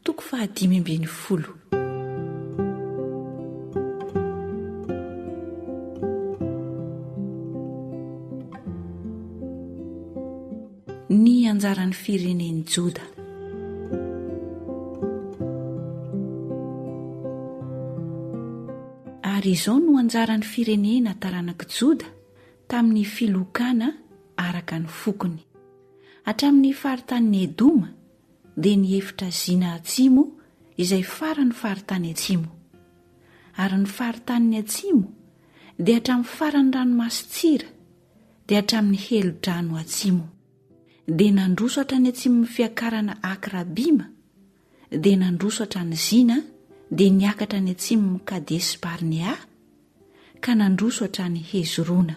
Toko faha dimy ambin'ny folo. Ny anjaran'ny firenen'i Joda. Ary izao no anjaran'ny firenena taranak'i Joda tamin'ny filokana araka ny fokony. Hatramin'ny faritanin'i Edoma dia ny efitra Zina Atsimo izay faran'ny faritany atsimo. Ary ny faritanin'ny atsimo dia hatramin'ny faran'ny ranomaso Tsira, dia hatramin'ny helodrano atsimo. Dia nandroso hatrany atsimon'ny fiakarana Akrabima, dia nandroso hatrany Zina, dia niakatra any atsimon'i Kadesi-Barnea, ka nandroso hatrany Hezrona.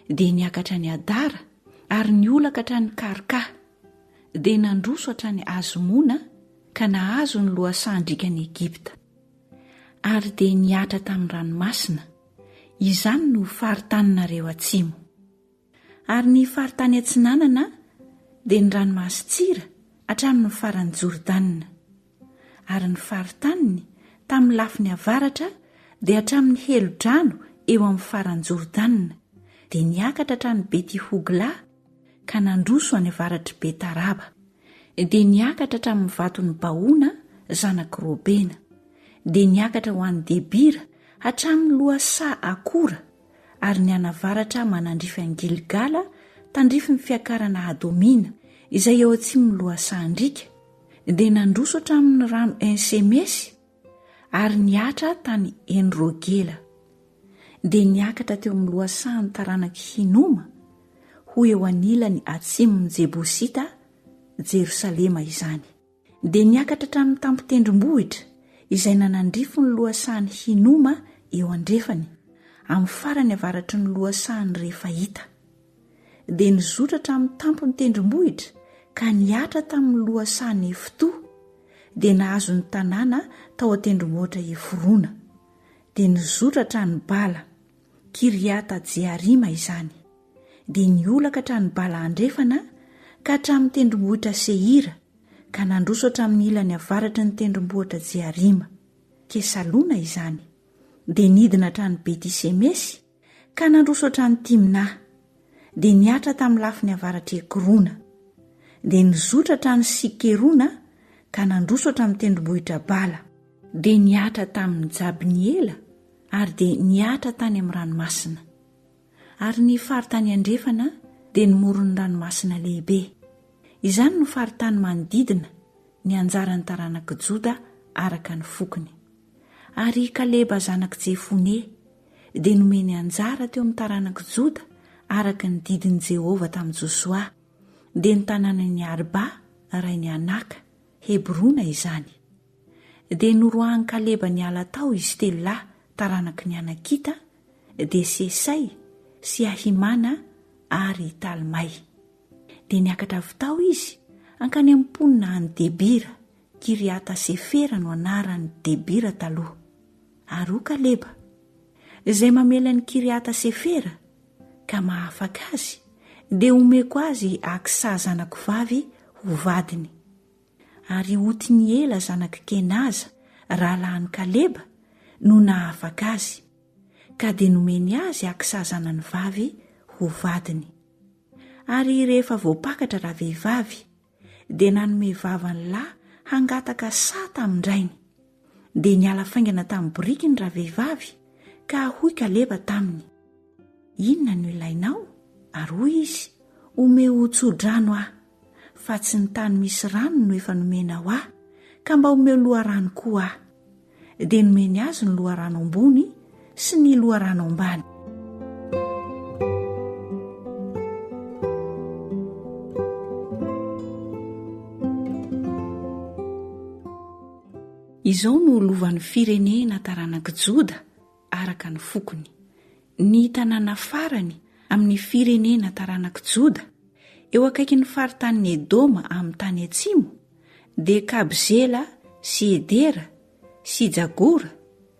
Dia niakatra any Adara ary niolaka hatrany Karka. Dia nandroso hatrany Azmona ka nahazo ny lohasahan-drikan'i Egypta. Ary dia nihatra tamin'ny ranomasina. Izany no ho faritaninareo atsimo. Ary ny faritany atsinanana dia ny ranomaso Tsira hatramin'ny faran'i Jordana. Ary ny faritaniny tamin'ny lafiny avaratra dia hatramin'ny helodrano eo amin'ny faran'i Jordana, dia niakatra hatrany Beti-Hogla ka nandroso any avaratr'i Bet-Araba, dia niakatra hatramin'ny vaton'i Baona zanak'i Robena, dia niakatra ho any Debira hatramin'ny lohasaha Akora, ary ny anavaratra manandrify an'i Gilgala tandrify ny fiakarana Adomina, izay eo atsimon'ny lohasahan-driaka, dia nandroso hatramin'ny rano En-semesy ary nihatra tany En-rogela. Dia niakatra teo amin'ny lohasahan'ny taranak'i Hinoma, ho eo anilany atsimon'ny Jebosita, Jerosalema izany. Dia niakatra hatramin'ny tampon-tendrombohitra izay nanandrify ny lohasahan'i Hinoma eo andrefany, amin'ny farany avaratry ny lohasahan'i Refaita. Dia nizotra hatramin'ny tampon-tendrombohitra ka nihatra tamin'ny lohasaha Nefto, dia nahazo ny tanàna tao an-tendrombohitra Efrona. Dia nizotra hatrany Bala. Kiriata Jearima izany, dia niolaka hatrany Bala Andrefana ka hatramin'ny tendrombohitra Seira, ka nandroso hatramin'ny ilany avaratry ny tendrombohitra Jearima. Kesalona izany, dia nidina hatrany Bety Semesy, ka nandroso hatrany Timna, dia nihatra tamin'ny lafiny avaratr'i Ekrona, dia nizotra hatrany Sikerona ka nandroso hatramin'ny tendrombohitra Bala, dia nihatra tamin'i Jabniela, ary dia nihatra tany amin'ny ranomasina. Ary ny faritany andrefana dia ny moron'ny ranomasina lehibe. Izany no faritany manodidina ny anjaran'ny taranak'i Joda araka ny fokony. Ary i Kaleba zanak'i Jefone dia nomeny anjara teo amin'ny taranak'i Joda araka ny didin'i Jehovah tamin'i Josoa, dia ny tanànan'i Arba, rain'i Anaka, Hebrona izany. Dia noroahan'i Kaleba niala tao izy telo lahy taranaky ny Anakita, dia Sesay sy Ahimana ary Talmay. Dia niakatra avy tao izy hankany amin'ny mponina any Debira, Kiriata Sefera no anaran'i Debira taloha. Ary hoy Kaleba, Izay mamely an'i Kiriata Sefera, ka mahafaka azy, dia homeko azy Aksa zanako vavy ho vadiny. Ary i Otiniela zanak'i Kenaza, rahalahin'i Kaleba, no nahafaka azy, ka dia nomeny azy Aksa zanany vavy ho vadiny. Ary rehefa voapakatra ravehivavy, dia nanome vava ny lahy hangataka saha tamin-drainy. Dia niala faingana tamin'ny boriky ny ravehivavy ka hoy Kaleba taminy, Inona no ilainao? Ary hoy izy, Omeo ho tso-drano aho, fa tsy ny tany misy rano no efa nomenao ahy, ka mba omeo loharano koa aho. Dia nomeny azy ny loharano ambony, sy ny loharano ambany. Izao no lovan'ny firenena taranak'i Joda araka ny fokony. Ny tanàna farany amin'ny firenena taranak'i Joda eo akaikin'ny faritanin'i Edoma amin'ny tany atsimo dia Kabzela sy Edera sy Jagora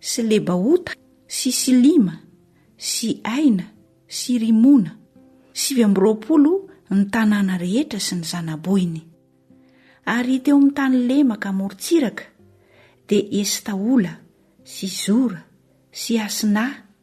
sy Lebaota sy Silima sy Aina sy Rimona, sivy amby roapolo ny tanàna rehetra sy ny zana-bohiny. Ary teo amin'ny tany lemaka amorontsiraka dia Estaola sy Zora sy Asina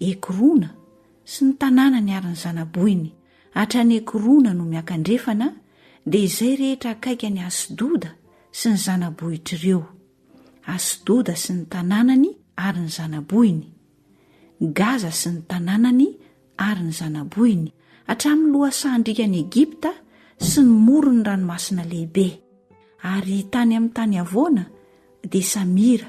Ekrona sy ny tanàna niarin'ny zanabohiny, hatrany Ekrona no miankandrefana, dia izay rehetra akaiky an'i Asdoda sy ny zanabohitr' ireo, Asdoda sy ny tanànany ary ny zanabohiny, Gaza sy ny tanànany ary ny zanabohiny, hatramin'ny lohasahan-drikan'i Egypta sy ny moron'ny Ranomasina Lehibe, ary tany amin'ny tany havoana dia Samira,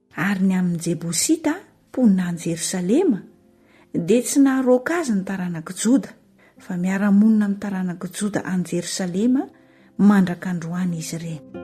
Ary ny amin'ny Jebosita, mponina any Jerosalema, dia tsy naharoaka azy ny taranak'i Joda, fa miara-monina amin'ny taranak'i Joda any Jerosalema mandraka androany izy ireny.